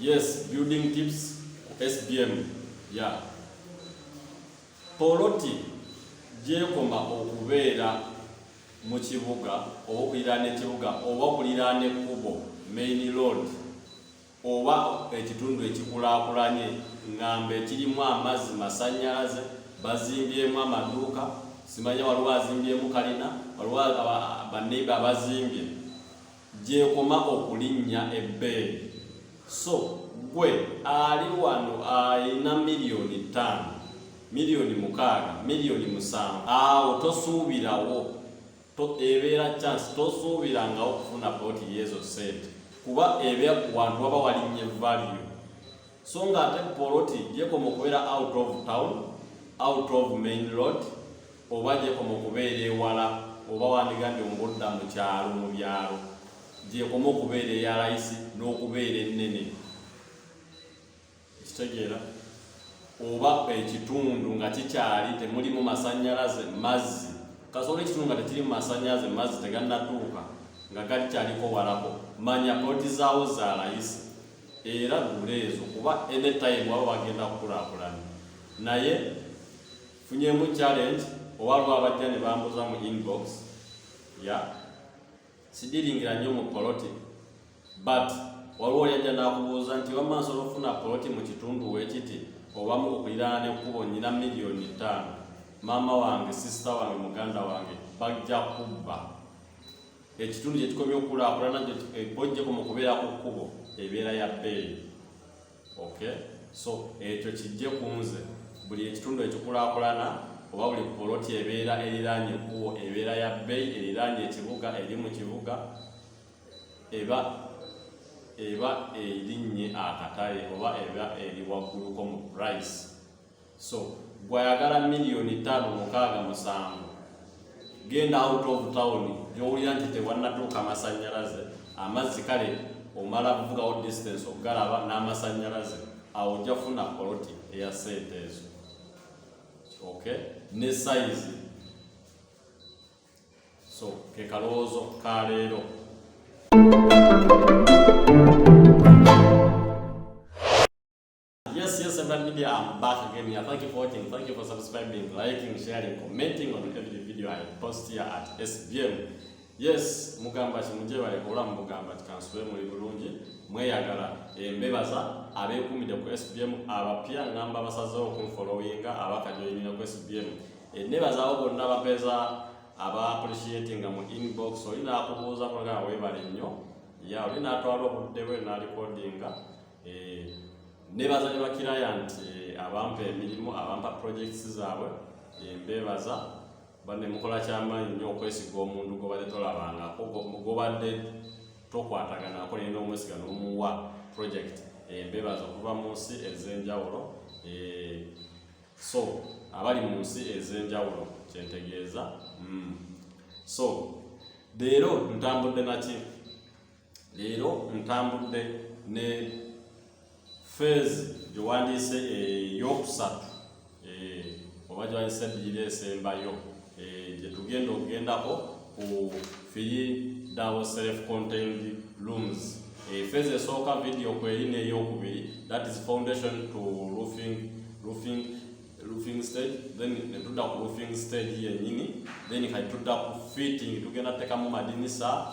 Yes, building tips SBM. Yeah. Poloti gyekoma okubeera mu kibuga oba okuliraana ekibuga oba okuliraana ekkubo main road oba ekitundu ekikulaakulanye ngamba ekirimu amazzi masannyalaze bazimbyemu amaduuka simanya waliwo azimbyemu kalina waliwo baneiba abazimbye gy'ekoma okulinnya ebbeeyi. So ggwe ali wano alina miliyoni ttaano, miliyoni mukaaga, miliyoni musanvu, awo tosuubirawo, ebeera chance, tosuubirangawo okufuna poti y'ezo ssente kuba eba ku wantu waba walinnye value. So ng'ate poloti gy'ekoma okubeera out of town, out of main road, oba gyekoma okubeera ewala oba wandigambye mu budda mu kyalo mu byalo gyekoma okubeera eya layisi n'okubeera ennene ekitegeera oba ekitundu nga kikyali temulimu masannyalaze mazzi kasobola ekitundu nga tekirimu masannyalaze mazzi tegannatuuka nga galikyaliko walako manya poloti zaawo za layisi era gula ezo kuba enetayimu waba bagenda kukulakulana naye Funyemu challenge owaliwo abajja ne bambuza mu inbox ya sidiringira nnyo mu poloti but waliwo yajja nakubuuza nti wamma nsobola okufuna poloti mu kitundu wekiti obamu okuliraana nekkubo nyina miliyoni ttaano maama wange sisita wange muganda wange bajja kubba ekitundu kyekikomye okukulakulana bojjeko mu kubeera ku kkubo ebeera ya bbeeyi okay so ekyo kijje ku nze buli ekitundu ekikulakulana oba buli poloti ebeera eriraanye ekkubo ebeera ya bbeyi eriraanye ekibuga eri mu kibuga eba eba erinnye akatale oba eba eri wagguluko mu price so gwayagala miliyoni ttaano mukaaga musanvu genda out of town gyowulira nti tewannatuuka amasannyalaze amazzi kale omala kuvugawo distance okugalaba n'amasannyalaze awo ojja funa poloti eya sente ezo okay ne size so ke kalowoozo ka leero Yes, yes, Seven Media, I'm back again here. Thank you for watching. Thank you for subscribing, liking, sharing, commenting on every video I post here at SBM. Yes, mugamba kimuje bale kola mugamba tikanswe muli bulungi mweyagala embebaza abekumide ku SBM abapya ngamba basaze oku followinga abakajoyina ku SBM. Enebaza obo nabapeza aba appreciating mu inbox oyina akubuza kola webale nnyo. Ya oyina atwalo budde we na recordinga. Eh, nebaza ne bakirayant eh, abampa emirimu abampa projects zaabwe eh, mbebaza bane mukola kyamaanyi nnyo okwesiga omuntu gobadde tolabangako gobadde tokwatagana ako naye n'omwesiga n'omuwa project mbebaza okuva mu nsi ez'enjawulo so abali mu nsi ez'enjawulo kyentegeeza hmm. so leero ntambudde naki leero ntambudde ne feezi gyewandiise eyokusatu eh, oba gyewandiise ebbiri esembayo eh, gyetugenda okugendako ku firi dawo self contained rooms eh, feezi esooka vidiyo kweri neyokubiri that is foundation to roofing, roofing roofing stage then netudda ku roofing stage yenyini then kati tudda ku fitting tugenda tekamu madinisa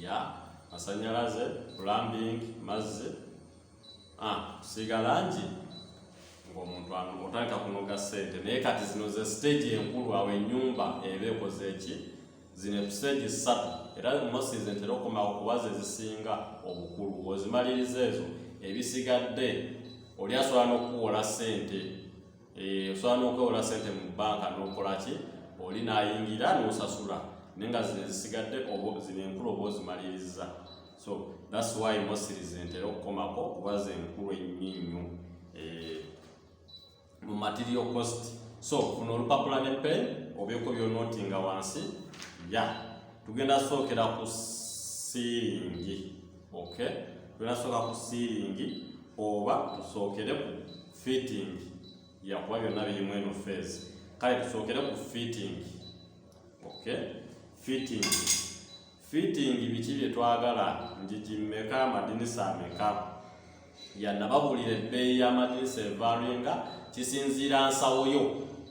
ya masanyalaze plumbing mazzi ah, kusiiga langi ng'omuntu otandika kunoga ssente naye kati zino ze siteegi enkulu awo ennyumba eba ekoze eki zino episeegi ssatu era mosi zentera okukomawo kuba ze zisinga obukulu ozimaliriza ezo ebisigadde oli asobola n'okukuwola ssente Eh, osobola n'okwewola sente mu bbanka n'okola ki oli n'ayingira n'osasula naye nga zino ezisigadde zino enkulu oba ozimalirizza so thats why mosiri zentera okukomako kuba zenkulu ennyo nnyo eh, mu material cost so kuno olupapula ne pen obyeko byonoti nga wansi ya tugenda sookera ku siiringi ok tugenda sooka ku siiringi oba tusookere ku fitting yakuba byonna birimu eno feezi kale tusookere ku fitting ok fitting fitting biki bye twagala njiji mmeka amadinisa ameka yanababulira ebbeeyi y'amadinisa evaringa kisinziira nsawo yo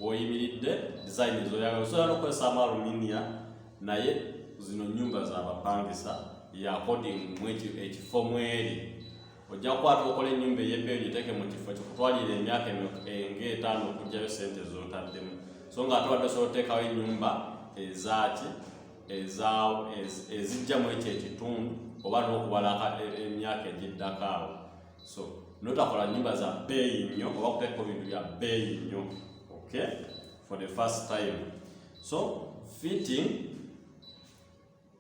woyimiridde design zoyagala osobola nokukozesaamu aluminia naye zino nyumba zabapangisa yakodingu ekifo mweri ojja kukwata okola ennyumba ey'ebbeeyi ogiteeke mu kifo kikutwalira emyaka ng'etaano okugyayo sente z'otaddemu so nga ate wadde osobola oteekawo ennyumba ezaaki ezijja mu ekyo ekitundu oba n'okubala e, emyaka egiddako awo so notakola nyumba za bbeeyi nnyo oba kuteekako bintu bya bbeeyi nnyo okay for the first time so fitting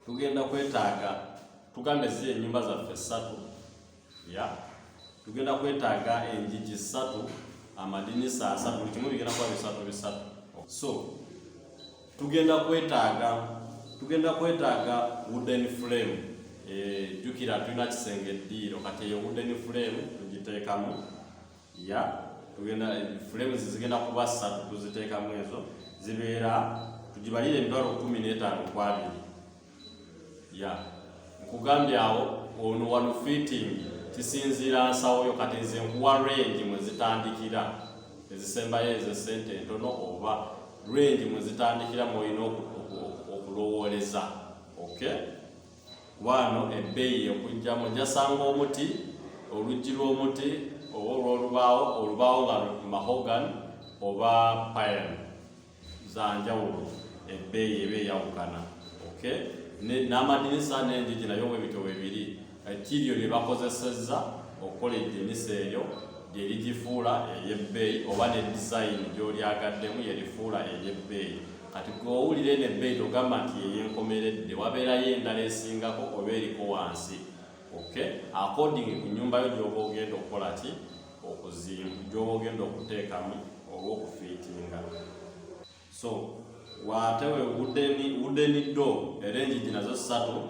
tugenda kwetaaga tugambe zi enyumba zaffe satu ya tugenda kwetaaga enjiji satu amadinisa asatu buli kimu bigenda kuba bisatu bisatu so tugenda kwetaaga tugenda kwetaaga wooden frame eh, jukira tulina kisenge eddiiro kati eyo wooden frame tugiteekamu ya tugenda flames zigenda kuba ssatu tuziteekamu ezo zibeera tugibalire emitwalo kumi n'etaano ku abiri ya nkugambye awo ono wano fitting kisinziira nsawo yo kati nze nkuwa range mwe zitandikira ezisembayo ezo sente entono oba range mwe zitandikira mwolina okulowooleza okay waano ebbeeyi yekujjamu jasanga omuti oluggi lw'omuti oba olw'olubaawo olubaawo nga mahogan oba pine zanjawulo ebbeeyi eba eyawukana okay n'amadinisa n'enjiji nayo webityo webiri kiryo lye bakozesezza okukola eddinisa eryo lye ligifuula ery'ebbeeyi oba ne dizayini gy'olyagaddemu yerifuula ery'ebbeeyi kati gwe owulira eno ebbeeyi togamba nti yeyenkomeredde wabeerayo endala esingako oba eriko wansi ok according ku nyumba yo gyoba ogenda okukola ki okuzimba gyoba ogenda okuteekamu oba okufiitinga so wate we wudeni do era enjiji nazo ssatu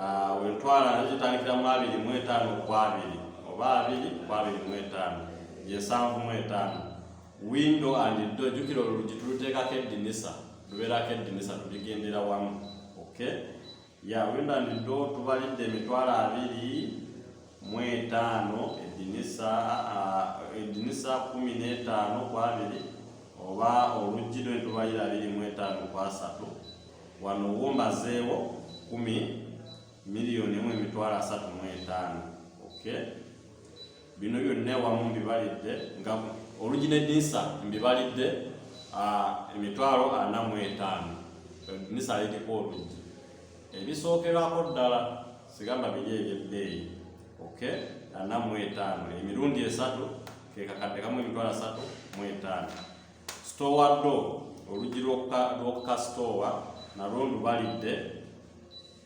ah, wentwala nazo zitandikira mu abiri mu etaano ku abiri oba abiri ku abiri mu etaano yensanvu mu etaano windo and do jukira olulugi tuluteekako eddinisa lubeerako eddinisa tuligendera wamu okay ya windo and do tubalidde emitwalo abiri mu etaano eddinisa eddinisa kumi n'etaano ku abiri oba oluggi lwe tubalira abiri mu etaano ku asatu wano wombazeewo kumi miliyoni emu emitwalo asatu mu etaano okay bino byonna ewamu mbibalidde nga olugi ne dinisa mbibalidde emitwalo ana mu etaano dinisa aleteko olugi ebisookerwako ddala sigamba biri ebyebbeeyi ok ana mu etaano emirundi esatu kekakadde kamu emitwalo asatu mu etaano stowa do olugi lwokukasitowa nalwo ndubalidde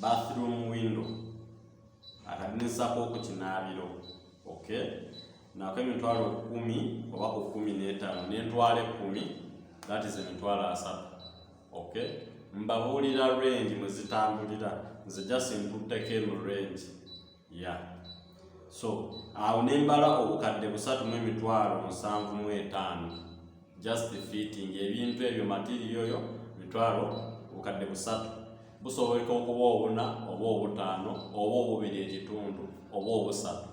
bathroom window akadinisako ku kinaabiro okay nako emitwalo kumi oba ku kumi n'etaano n'entwalo ekkumi that is emitwalo asatu okay mbabuulira range mwe zitambulira nze just ntutteko eno range ya so awo ne mbala obukadde busatu mu emitwalo musanvu mu etaano just fitting ebintu ebyo matiriyo yo mitwalo obukadde busatu busoboleka okuba obuna oba obutaano oba obubiri ekitundu oba obusatu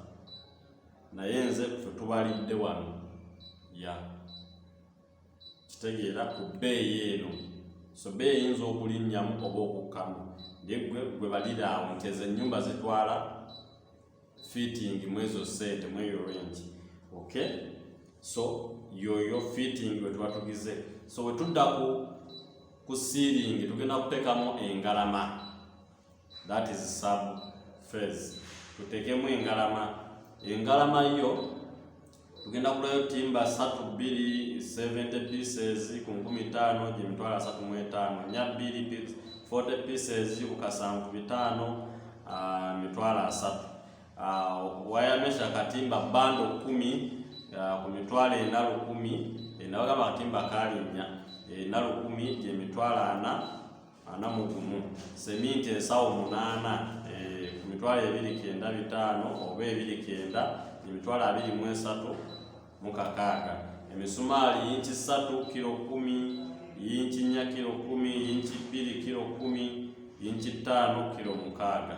naye nze fe tubalidde wano ya yeah. kitegeera ku bbeeyi eno so bbeeyi eyinza okulinnyamu oba okukkamu ye gwe balira awo nti ezo ennyumba zitwala fitting mwezo sente mweyo rengi ok so yoyo fitting wetuba tugize so wetudda ku ku siiringi tugenda kuteekamu engalama that is sub phase tuteekemu engalama engalama yo tugenda kulayo timba satu bbiri 70 pieces ku nkumi ttaano gye mitwalo asatu mu etaano nya bbiri 40 pieces ku kasanvu bitaano ah, mitwalo asatu ah, wayamesha katimba bando kumi ah, ku mitwalo ena lukumi enawagamba eh, katimba kalinnya ena eh, lukumi gye mitwalo ana ana mu gumu seminti ensawo munaana eh, ku mitwalo ebiri kenda bitaano oba ebiri kenda emitwalo abiri mu esatu mu kakaaga emisumaali yinki ssatu kiro kumi yinki nnya kiro kumi yinki bbiri kiro kumi yinki ttaano kiro mukaaga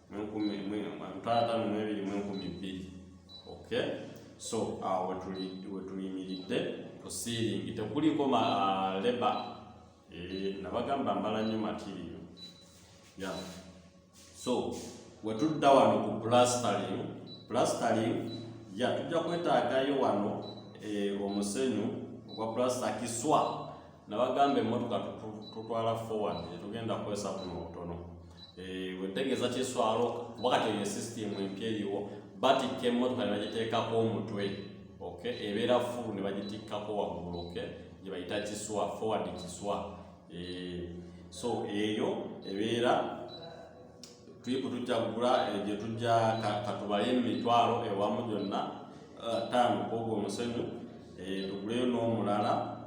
mwenkumi mutaano mwebiri mwenkumi bbiri okay so awo wetuyimiridde ku siiringi tekuliko ah, leba eh, nabagamba mbala nnyo matiriyo ya so wetudda wano ku plastering plastering ya tujja kwetaagayo wano eh, omusenyu ogwa plasta kiswa nabagamba emmotoka tutwala forward etugenda kukozesa kuno obutono Eh, wetegeeza kiswalo kuba kati eyo esisitimu empya eriwo batikka emmotoka ne bagiteekako omutwe ok ebeera fulu ne bagitikkako waggulu ok gye bayita kiswa forward kiswa eh, so eyo ebeera tuyiku tujja kugula eh, gye tujja katubale emitwalo ewamu gyonna taano kwogwo omusenyu tuguleyo n'omulala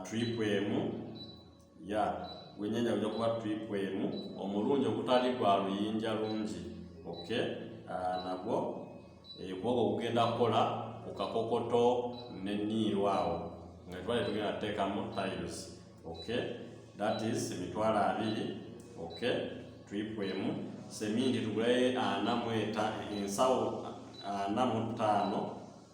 tripu emu ya gwenyanya ojja kuba tripu emu omulungi ogutali gwa luyinja lungi ok ah, nagwo ekwogo eh, kugenda kukola ku kakokoto ne niiru awo nga twali tugenda tuteekamu tiles ok that is emitwalo abiri ok tripu emu semindi tugulayo ana mweta ensawo ana mu ttaano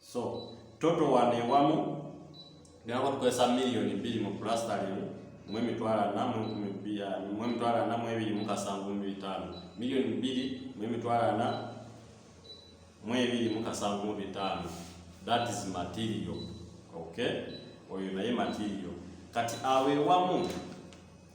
so toto wano ewamu gamba tukozesa miliyoni bbiri mu pulastalimu mu emitwalo ana mu enkumi bbiri ah, mu emitwalo ana mu ebiri mu kasanvu mu bitaano miliyoni bbiri mu emitwalo ana mu ebiri mu kasanvu mu bitaano that is material okay oyo naye material kati awo ewamu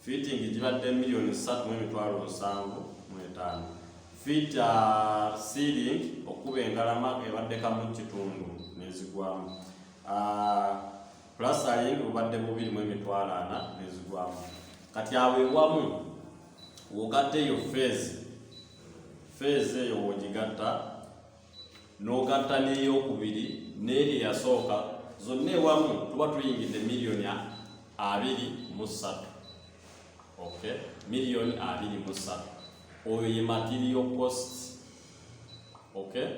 fiitingi gibadde miliyoni ssatu mu emitwalo nsanvu mu etaano fiita sealing okuba engalama ebadde kamu kitundu nezigwamu ah, plasaling bubadde bubiri mu emitwalo ana nezigwamu kati awo ewamu wogatte eyo feezi feezi eyo wogigatta n'ogatta n'eyokubiri n'eri eyasooka zonna ewamu tuba tuyingidde miliyoni abiri mu ssatu okay miliyoni abiri mu ssatu oyo ye material cost okay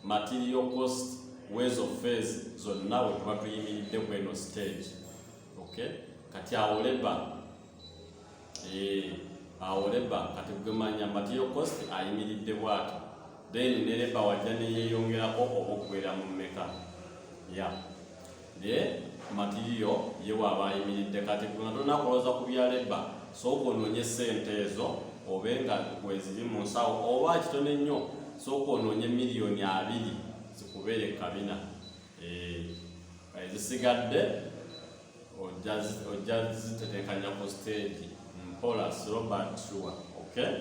material cost wezo phase zonna we tuba tuyimiridde ku eno stage okay kati awo leba Eh, awo leba kati gwe manya matiyo kosti ayimiridde bwati then ne leba wajja neyeyongerako obuggwera mu mmeka ya naye matiyo ye waaba ayimiridde kati gwe nga tolina kulowooza ku bya leba sooka onoonye ssente ezo obe nga weziri mu nsawo oba kitone nnyo sooka onoonye miliyoni abiri zikubeere kabina eh, ezisigadde ojja zitetekanya ku stage mpola robert sure okay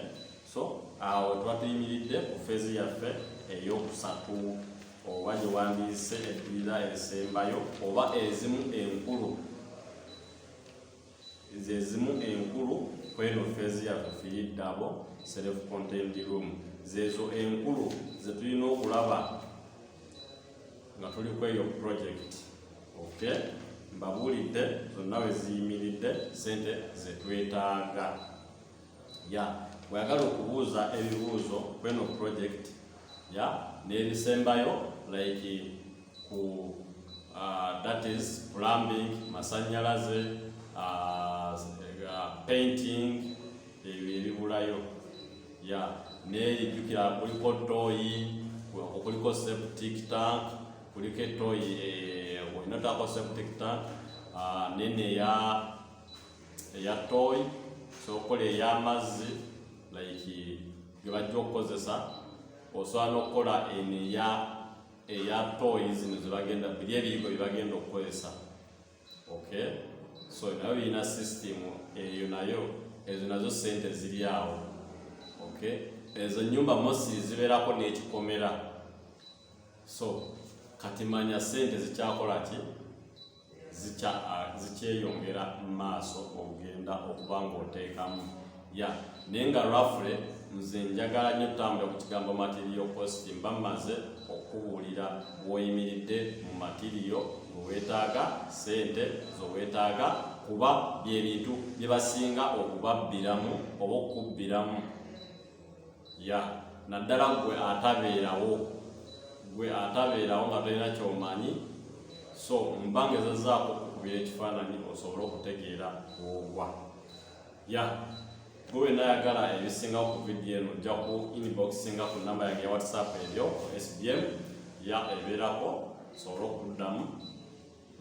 so awo tuba tuyimiridde ku feezi yaffe eyokusatu oba gye wandiise eddira esembayo oba ezimu enkulu zezimu enkulu kweno feezi yaffe fiyiddabo self contained room zezo enkulu zetulina okulaba nga tuli ku eyo project okay mbabuulidde zonna we ziyimiridde sente zetwetaaga ya bweyagala okubuuza ebibuuzo kweno project ya n'ebisembayo like ku uh, that is plumbing masanyalaze uh, uh, painting ebyo ebibulayo ya neeri jjukira kuliko tooyi kuliko septic tank kuliko etooyi eh, olina otaako septic tank ah, nene eya eya tooyi sokola ey'amazzi like ge bajja okukozesa osobola n'okukola eno eya eya tooyi zino zebagenda biri ebiyigo byebagenda okukozesa okay so nayo birina system eyo nayo ezo nazo sente ziri awo okay ezo nyumba mosi zibeerako n'ekikomera so kati manya sente zikyakola ki zikyeyongera mu maaso ogenda okuba ng'oteekamu ya naye nga rafule nze njagala nnyo tambula ku kigambo matiriyo kosti mba mmaze okukubuulira woyimiridde mu matiriyo weweetaaga sente zoweetaaga kuba byebintu bye basinga okubabbiramu oba okukubbiramu ya naddala gwe atabeerawo gwe atabeerawo nga tolina kyomanyi so mba ngezezaako okukubira ekifaananyi osobole okutegeera ogwa ya gwe wena ayagala ebisingawo ku vidiyo eno ojja ku inboxinga ku namba yange ya whatsapp ebyo ku sbm ya ebeerako osobole okuddamu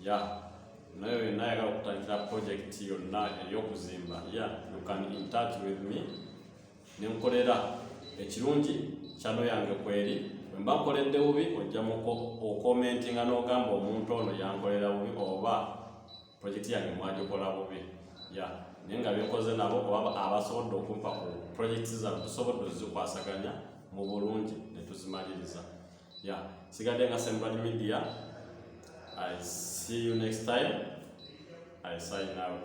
ya naye wena ayagala okutandikira project yonna ey'okuzimba ya you can in touch with me nenkolera ekirungi kyano yange kweri wemba nkoledde bubi ojja muko okomentinga n'ogamba omuntu ono yankolera bubi oba Pulojekiti yange mwagikola bubi ya naye nga byenkoze nabo oba abasobodde okumpa ku pulojekiti zano tusobodde ozikwasaganya mu bulungi ne tuzimaliriza ya sigadde nga Sembrad Media I see you next time I sign out